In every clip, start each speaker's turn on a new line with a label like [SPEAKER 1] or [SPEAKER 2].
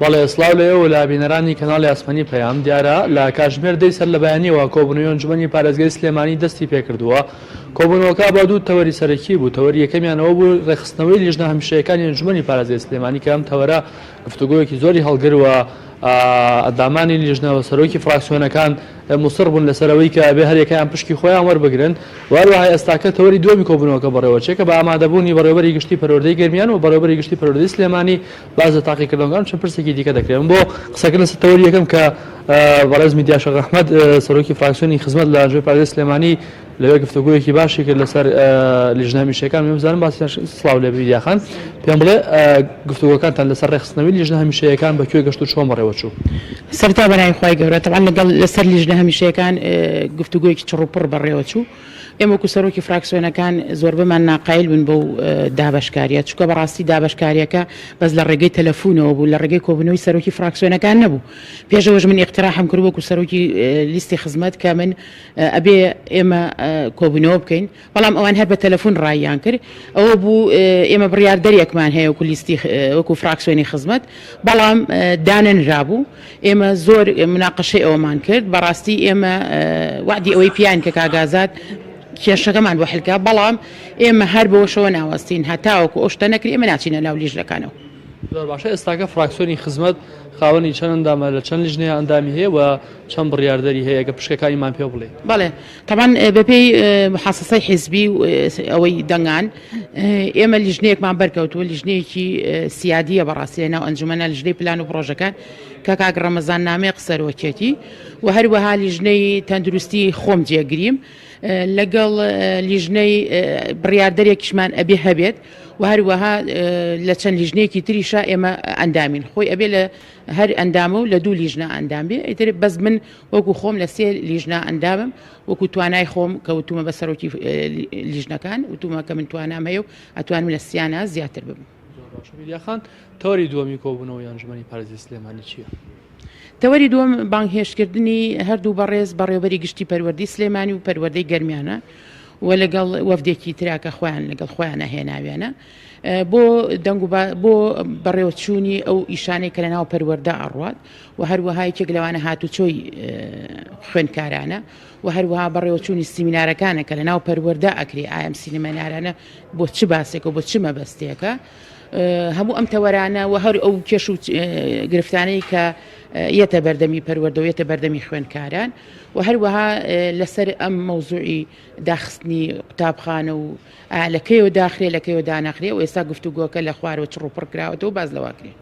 [SPEAKER 1] بەڵێ سڵاو لە ئێوە لا بینەرانی کەناڵی ئاسمانی پەیام دیارە لە کاژمێر دەی سەر لە بەیانیەوە کۆبنەوەی ئەنجومەنی پارێزگای سلێمانی دەستی پێکردووە کۆبوونەوەکە با دوو تەوەری سەرەکی بوو تەوەری یەکەمیانەوە بوو ڕێخستنەوەی لیژنە هەمیشەیەکانی ئەنجومەنی پارێزگای سلێمانی کە ئەم تەوەرە گفتوگۆیەکی زۆری هەڵگر و ئەدامانی لیژنە و سەرۆکی فراکسیۆنەکان مصر بوون لەسەر ئەوەی کە ئەبێ هەر یەکەیان پشکی خۆیان وەربگرن وەروەها ئێستاکە تەوەری دووەمی کۆبوونەوەکە بەڕێوەچێ کە بە ئامادەبوونی بەڕێوەبەری گشتی پەروەردەی گەرمیان و بەڕێوەبەری گشتی پەروەردەی سلێمانی باس لە تاقیکردنەوەکان چەند پرسێکی دیکە دەکرێت من بۆ قسەکردن لەسەر تەوەری یەکەم کە بەڕێز میدیا شەق ئەحمەد سەرۆکی فراکسیۆنی خزمەت لە ئەنجومەنی پارێزگای سلێمانی لەوێ گفتوگۆیەکی باشی کرد لەسەر لیژنە هەمیشەکان من بزانم باسی سڵاو لێ بیدیاخان پێم بڵێ گفتوگۆکانتان لەسەر ڕێخستنەوەی لیژنە هەمیشەیەکان بە کوێ گەشت و چۆن بەڕێوە چوو سەرتا بەنای
[SPEAKER 2] خی گەورە تەوان لەگەڵ لەسەر لیژنە هەمیشەکان گفتوگویەکی چڕوپڕ بەڕێوە چوو ئێمەکو سەرۆکی فراکسیۆنەکان زۆربەمان ناقایل بن بەو دابشکاریە چکە بەڕاستی دابشکاریەکە بەس لە ڕێگەی تەلەفونەوە بوو لە ڕێگەی کۆبنەوەی سەرۆکی فراکسیۆنەکان نەبوو پێشەوەش من اقتراحم کرد وەکو سەرۆکی لیستی خزمەت کە من ئەبێ ئێمە کۆبوونەوە بکەین، بەڵام ئەوان هەر بە تەلەفون ڕاییان کرد، ئەوە بوو ئێمە بڕیاردەرێکمان هەیە وەکو لیستی وەکو فراکسیۆنی خزمەت، بەڵام دانەنرابوو، ئێمە زۆر مناقەشەی ئەوەمان کرد، بەڕاستی ئێمە وەعدی ئەوەی پیاین کە کاک ئازاد، کێشەکەمان بۆ حل کا، بەڵام ئێمە هەر بەوەشەوە ناوەستین هەتاوەکو ئەو شتە نەکرێ ئێمە ناچینە ناو لیژنەکانەوە. زۆر باشە
[SPEAKER 1] ئێستاکە فراکسیۆنی خزمەت خاوەنی چەند ئەندامە لە چەند لیژنەیە ئەندامی هەیە و چەند بڕیاردەری هەیە ئەگەر پشکەکانیمان پێ بڵێی. بەڵێ تەبعەن
[SPEAKER 2] بەپێی محاسەسەی حیزبی و ئەوەی دەنگان ئێمە لیژنەیەکمان بەرکەوتووە لیژنەیەکی سیادیە بەڕاستی لەناو ئەنجومەنە لیژنەی پلان و پڕۆژەکان کە کاک ڕەمەزان نامەیەق سەرۆکیەتی و هەروەها لیژنەی تەندروستی خۆم جێگریم لەگەڵ لیژنەی بڕیاردەرێکیشمان ئەبێ هەبێت و هەروەها لە چەند لیژنەیەکی تریشا ئێمە ئەندامین خۆی ئەبێ لە هەر ئەندامە و لە دوو لیژنە ئەندام بێ ئیتر بەس من وەکو خۆم لە سێ لیژنە ئەندامم وەکو توانای خۆم کە وتومە بە سەرۆکی لیژنەکان وتومە کە من توانام هەیە و ئەتوانم لە سیانە زیاتر بم.
[SPEAKER 1] تەوەری دووەمی کۆبوونەوەی ئەنجومەنی پارێزی سلێمانی چییە؟ تەوەری
[SPEAKER 2] دووەم بانگهێشتکردنی هەردوو بەڕێز بەڕێوبەری گشتی پەروەردەی سلێمانی و پەروەردەی گەرمیانە و لەگەڵ وەفدێکی ترا کە خۆیان لەگەڵ خۆیانە هێناویانە بۆ دەنگ و بۆ بەڕێوەچوونی ئەو ئیشانەی کە لەناو پەروەەردە ئەڕوات و هەروەها یەکێک لەوانە هاتوچۆی خوێندکارانە و هەروەها بەڕێوەچوونی سیمینارەکانە کە لەناو پەروەەردە ئەکری ئایم سینەمەنارانە بۆ چ باسێکە و بۆ چ مەبەستێکە هەموو ئەم تەوەرانە و هەر ئەو کێش و گرفتانەی کە یەتە بەردەمی پەروەردە و یەتە بەردەمی خوێندکاران و هەروەها لەسەر ئەم مەوزوعی داخستنی قوتابخانە و لەکەیەوە داخرێ لەکەیەوە داناخرێ و ئێستا گفتوگۆکە لە خوارەوە چڕوپڕکراوەتەوە باز لەواکرێ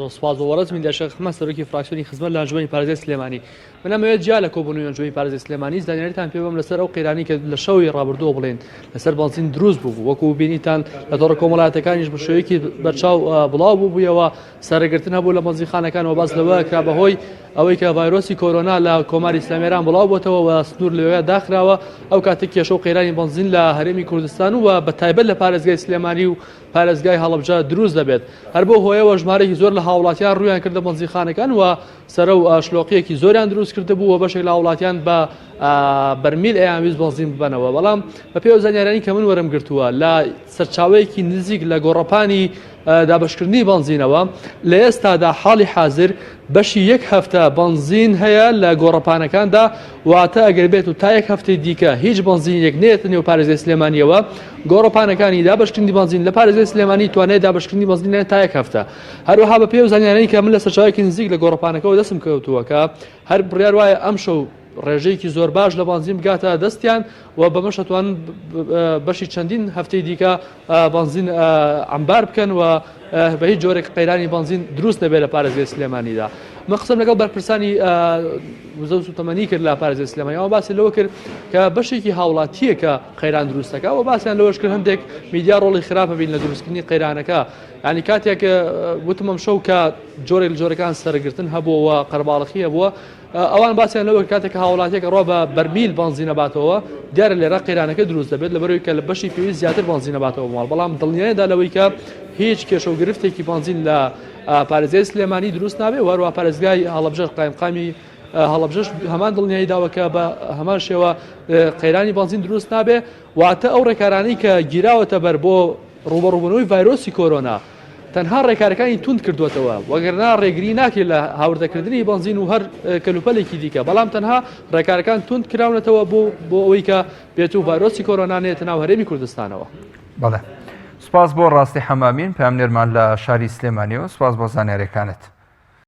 [SPEAKER 2] سپاس بۆ
[SPEAKER 1] وەڕز من دەشە خمە سەرۆکی فراکسیۆنی خزمەت لە ئەنجومەنی پارێزگای سلێمانی من ئەمەوێت جیا لە کۆبوونەوەی ئەنجومەنی پارێزگای سلێمانی زانیاریتان پێ بەم لەسەر ئەو قەیرانی کە لە شەوی ڕابردووە بڵێن لەسەر بەنزین دروست بوو وەکو بینیتان لە تۆڕە کۆمەڵاتەکانیش بە شێوەیەکی بەرچاو بڵاو بوو بوویەوە سەرگرتن هەبوو لە بەنزیخانەکان و باس لەوە کرا بەهۆی ئەوەی کە ڤایرۆسی کۆرۆنا لە کۆماری ئیسلامیێران بڵاو بۆتەوە و سنوور لەوێ داخراوە ئەو کاتێک کێشە و قەیرانی بەنزین لە هەرێمی کوردستان و بە تایبەت لە پارێزگای سلێمانی و پارێزگای هەڵەبجە دروست دەبێت، هەر بەو هۆیەوە ژمارەیەکی زۆر لە هاوڵاتیان ڕوویان کردە بەنزیخانەکان و سەرە و شلۆقیەکی زۆریان دروست کردبوو و بەشێک لە هاوڵاتیان بە بەرمیل ئەیان ویست بەنزین ببەنەوە بەڵام بەپێ و زانیارانی کە من وەرم گرتووە لە سەرچاوەیەکی نزیک لە گۆڕەپانی دابشکردنی بەنزینەوە لە ئێستادا حاڵی حاضر بەشی یەک هەفتە بەنزین هەیە لە گۆڕەپانەکاندا واتە ئەگەر بێت و تا یەک هەفتەی دیکە هیچ بەنزینێک نێت نێو پارێزگای سلێمانیەوە گۆڕەپانەکانی دابشکردنی بەنزین لە پارێزگای سلێمانی توانێت دابشکردنی بەنزینیان تا یەک هەفتە هەروەها بە پێ و زانیارەی کە من لە سەرچاوێکی نزیک لە گۆڕەپانەکەەوە دەستم کەوتووەکە هەر بڕیار وایە ئەم شەو ڕێژەیەکی زۆر باش لە بانزیم بگاتە دەستیان و بەمەشەتوان بەشی چەندین هەفتەی دیکە بەنزین عەمبار بکەن و بە هیچ جۆرێک قەیرانی بەنزین دروست نەبێت لە پارێزگای سلێمانیدا من قسەم لەگەڵ بەرپرسانی وزەو سوتەمەنی کرد لە پارێزگای سلێمانی ئەوە باسی لەوە کرد کە بەشێکی هاوڵاتیە کە قەیران دروستەکە و باسیان لەوەش کرد هەندێک میدیا ڕۆڵی خراپە بین لە دروستکردنی قەیرانەکە ینی کاتێک وتمم شەو کە جۆرێک جۆرەکان سەرگرتن هەبووەوە قەرباڵخیە بووە ئەوان باسیان لەوە کاتێک کە هاوڵاتیەک ڕۆ بە بەرمیل بەنزینەباتەوە دیارە لێرا قەیرانەکە دروست دەبێت لەبەرەوەی کە لە بەشی پێویست زیاتر بەنزینەباتەوە ماڵ بەڵام دڵنیایدا لەوەی کە هیچ کێشە و گرفتێکی بەنزین لە پارێزگای سلێمانی دروست نابێت وەروە پارێزگای هەڵبژەر قایمقامی هەڵبژش هەمان دڵنیایی داوەکە بە هەمان شێوە قەیرانی بەنزین دروست نابێت واتە ئەو ڕێکارانی کە گیراوەتە بەر بۆ ڕوبەڕوبنەوەی ڤایرۆسی کۆرۆنا تەنها ڕێکارەکانی توند کردووەتەوە، وەگەرنا ڕێگری ناکرێت لە هاوردەکردنی بەنزین و هەر کەلوپەلێکی دیکە، بەڵام تەنها ڕێکارەکان توند کراونەتەوە بۆ ئەوەی کە بێتوو ڤایرۆسی کۆرۆنا نەیەتە ناو هەرێمی کوردستانەوە. بەڵێ
[SPEAKER 3] سوپاس بۆ ڕاستی حەمامین پامنێرمان لە شاری سلێمانی و سوپاس بۆ زانیاریەکانت.